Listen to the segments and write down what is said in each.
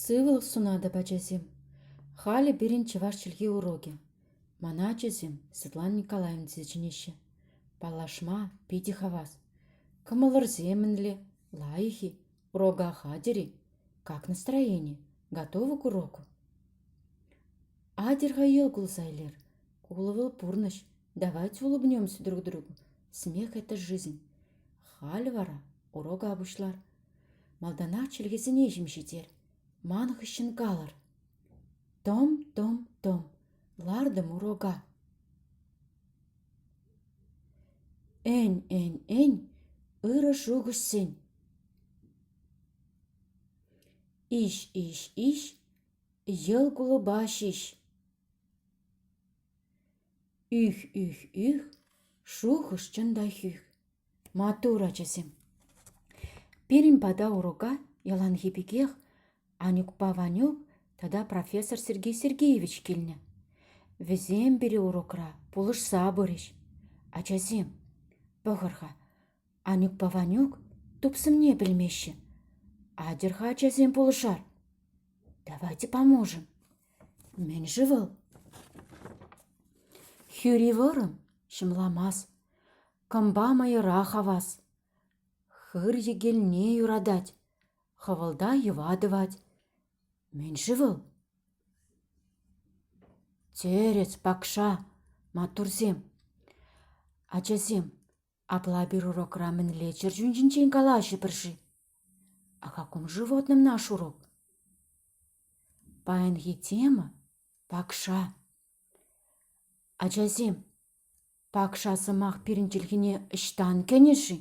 Сывлӑх сунатӑп, ачасем. Халӗ пирӗн чӑваш чӗлхи урокӗ. Мана ачасем Светлана Николаевна тесе чӗнеҫҫӗ. Паллашма питӗ хавас. Кӑмӑлӑрсемӗнле, лайӑх-и, урока хатӗр-и, как настроение, готовы к уроку? Атьӑр-ха йӑл кулса илер. Кулӑвӑл пурнӑҫ, Давайте улыбнемся друг другу. Смех – это жизнь. Халь вара урока пуҫлар. Малтанах чӗлхесене ҫим ҫитер. Ман хыҫҫӑн калӑр. Том-том-том. Лартӑм урока. Эн-эн-эн ырӑ шухӑшсен. Иҫ-иҫ-иҫ йӑл кулӑпа ҫиҫ. Ых, ых, ых, шухӑш чӑн та х. Маттур, ачасем! Пирӗн пата урока яланхи пекех Анюкпа Ванюк тата профессор Сергей Сергеевич килнӗ. Вӗсем пире урокра пулӑшса пырӗҫ. Ачасем, пӑхӑр-ха, Анюкпа Ванюк тупсӑмне пӗлмеҫҫӗ. Атьӑр-ха, ачасем, пулӑшар. Давайте поможем. Мӗн-ши вӑл? Хӳри вӑрӑм, ҫӑмламас, кӑмпа мӑйӑра хавас. Хыр йӗкелне юратать, хӑвӑлта йӑва тӑвать. Мӗн-ши вӑл? Тӗрӗс, пакша, маттурсем. Ачасем, Апла пир урокра мӗнле чӗрчун ҫинчен калаҫӑпӑр-ши? Акакум животным наш урок. Паянхи тема — пакша. Ачасем, пакша сӑмах пирӗн чӗлхене ӑҫтан кӗнӗ-ши?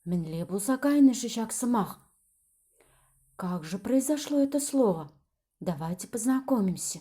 Мӗнле пулса кайнӑ-ши ҫак сӑмах? Как же произошло это слово? Давайте познакомимся.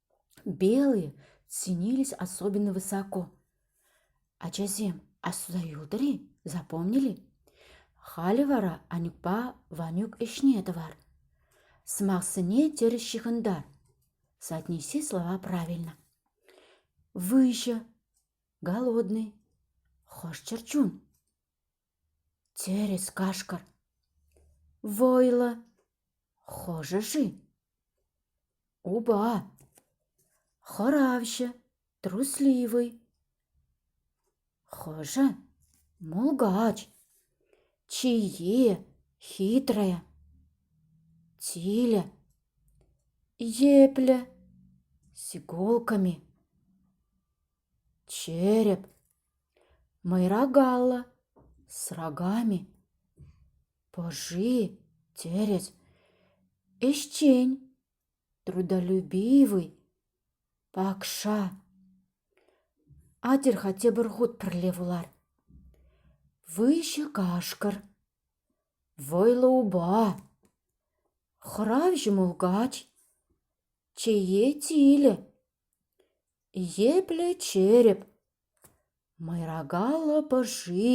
Белые ценились особенно высоко. Ачасем асса юлтӑр-и, запомнили? Халӗ вара Анюкпа Ванюк ӗҫне тӑвар. Сӑмахсене терӗҫ ҫыхӑнтар. Соотнеси слова правильно. Выҫӑ, голодный, хӑш чӗрчун? Тӗрӗс, кашкӑр. Вӑйлӑ. Хӑшӗ-ши? Упа. Хӑравҫӑ. Трусливый. Хӑшӗ? Мулкач. Чие. Хитрая. Тилӗ. Епле. С иголками. Череп. Мӑйра Галла с рогами пӑши тӗрӗс, ӗҫчен, трудолюбивый, пакша. Атьӑр-ха тепӗр хут пӗрле вулар. Выҫӑ кашкӑр, вӑйлӑ упа, хӑравҫӑ мулкач, чее тилӗ. Епле череп, мӑйрака лӑпӑши,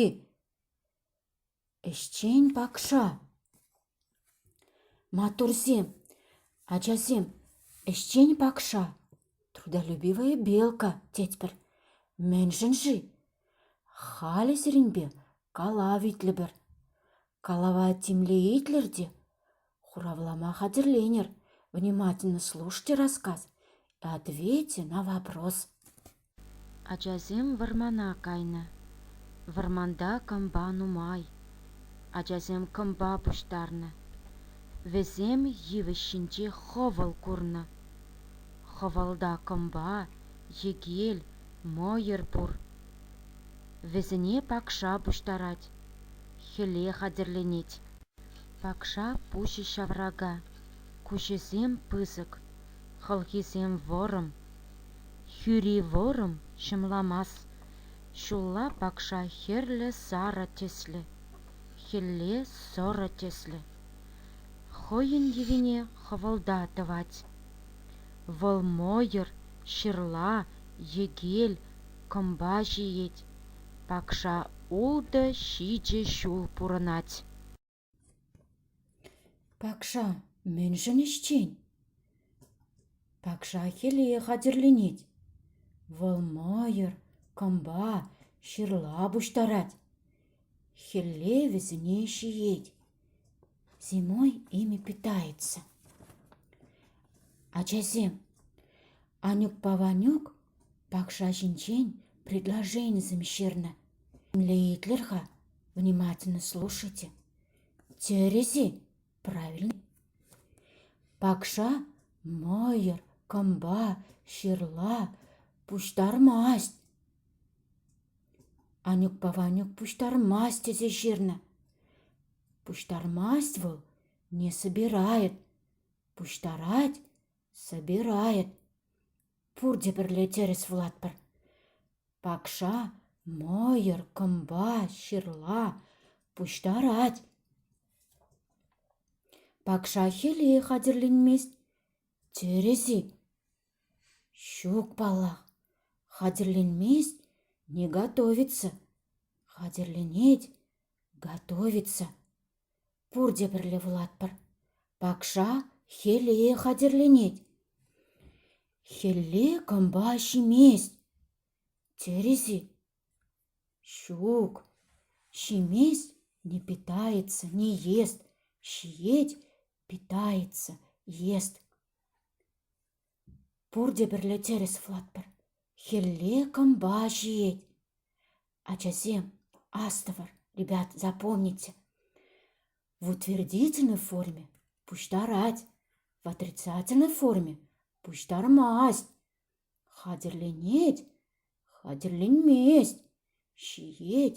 ӗҫчен пакша. Маттурсем, ачасем, ӗҫчен пакша, трудолюбивая белка, тетпӗр. Мӗншӗн-ши? Халӗ сирӗнпе калав итлӗпӗр. Калава темле итлӗр те Хуравлама хатӗрленӗр, внимательно слушайте рассказ и ответьте на вопрос. Ачасем вӑрмана кайнӑ. Вӑрманта кӑмпа нумай. Ачасем кӑмпа пуҫтарнӑ. Вӗсем йывӑҫ ҫинче хӑвӑл курнӑ. Хӑвӑлта кӑмпа, йӗкел, мӑйӑр пур. Вӗсене пакша пуҫтарать, хӗле хатӗрленет. Пакша пуҫӗ ҫаврака, куҫӗсем пысӑк, хӑлхисем вӑрӑм. Хӳри вӑрӑм ҫӑмламас, ҫулла пакша хӗрлӗ сарӑ тӗслӗ, хӗлле сӑрӑ тӗслӗ. Хӑйӗн йӑвине хӑвӑлта тӑвать. Вӑл мӑйӑр, ҫырла, йӗкел, кӑмпа ҫиет. Пакша ултӑ ҫичӗ ҫул пурӑнать. Пакша мӗншӗн ӗҫчен? Пакша хӗле хатӗрленет. Вӑл мӑйӑр, кӑмпа, ҫырла пуҫтарать. Хӗлле вӗсене ҫиет. Зимой ими питается. Ачасем, Анюкпа Ванюк Пакша ҫинчен предложенисем ҫырнӑ. Млеитлер-ха, внимательно слушайте. Тӗрӗс-и? Правильно. Пакша мӑйӑр, кӑмпа, ҫырла пуҫтармасть. Анюкпа Ванюк пуҫтармасть тесе ҫырнӑ. Пуҫтармасть вӑл, не собирает. Пуҫтарать, Собирает. Пурте пӗрле тӗрӗс вулатпӑр. Пакша мӑйӑр, кӑмпа, ҫырла пуҫтарать. Пакша хӗле хатӗрленмест. Тӗрӗс-и? Ҫук, паллах. Хатӗрленмест, не готовится. Хатӗрленет, готовится. Пурте пӗрле вулатпӑр. Пакша хӗле хатӗрленет. Хӗлле кӑмпа ҫимест. Терӗс-и? Ҫук, ҫимест – не питается, не ест, ҫиет – питается, ест. Пурте пӗрле тӗрӗс вулатпӑр. Хӗлле кӑмпа ҫиет. Ачасем, астӑвӑр, ребят, запомните. В утвердительной форме пуҫтарать, в отрицательной форме пуҫтармасть. Хатӗрленет, хатӗрленмест, ҫиет,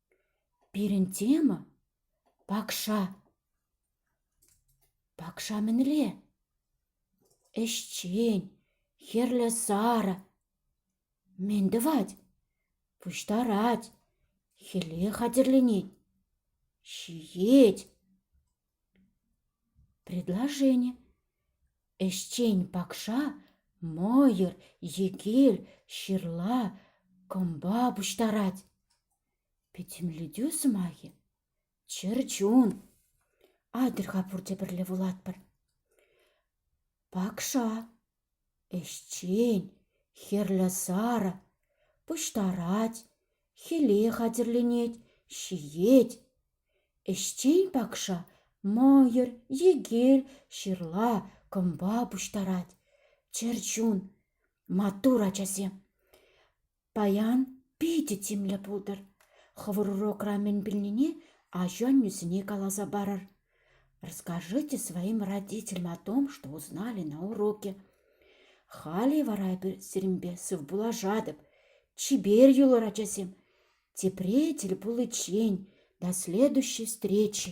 Пирӗн тема — пакша. Пакша мӗнле? Ӗҫчен, хӗрлӗ сарӑ. Мӗн тӑвать? Пуҫтарать, хӗле хатӗрленет. Ҫиет. Предложени ӗҫчен пакша мӑйӑр е кил ҫырла кӑмпа пуҫтарать. Пӗтӗмлетӳ сӑмахӗ чӗрчун. Атьӑр-ха пурте пӗрле вулатпӑр. Пакша Ӗҫчен, хӗрлӗ сарӑ, пуҫтарать, хӗле хатӗрленет, ҫиет. Ӗҫчен пакша мӑйӑр, йӗкел, ҫырла, кӑмпа пуҫтарать. Чӗрчун, маттур ачасем! Паян питӗ тимлӗ пултӑр. Хӑвӑр урокра мӗн пӗлнине ачу-аннӳсене каласа парӑр. Расскажите своим родителям о том, что узнали на уроке. Халӗ вара эпир сирӗнпе сывпуллашатӑп. Чипер юлӑр, ачасем. Тепре тӗл пуличчен, до следующей встречи.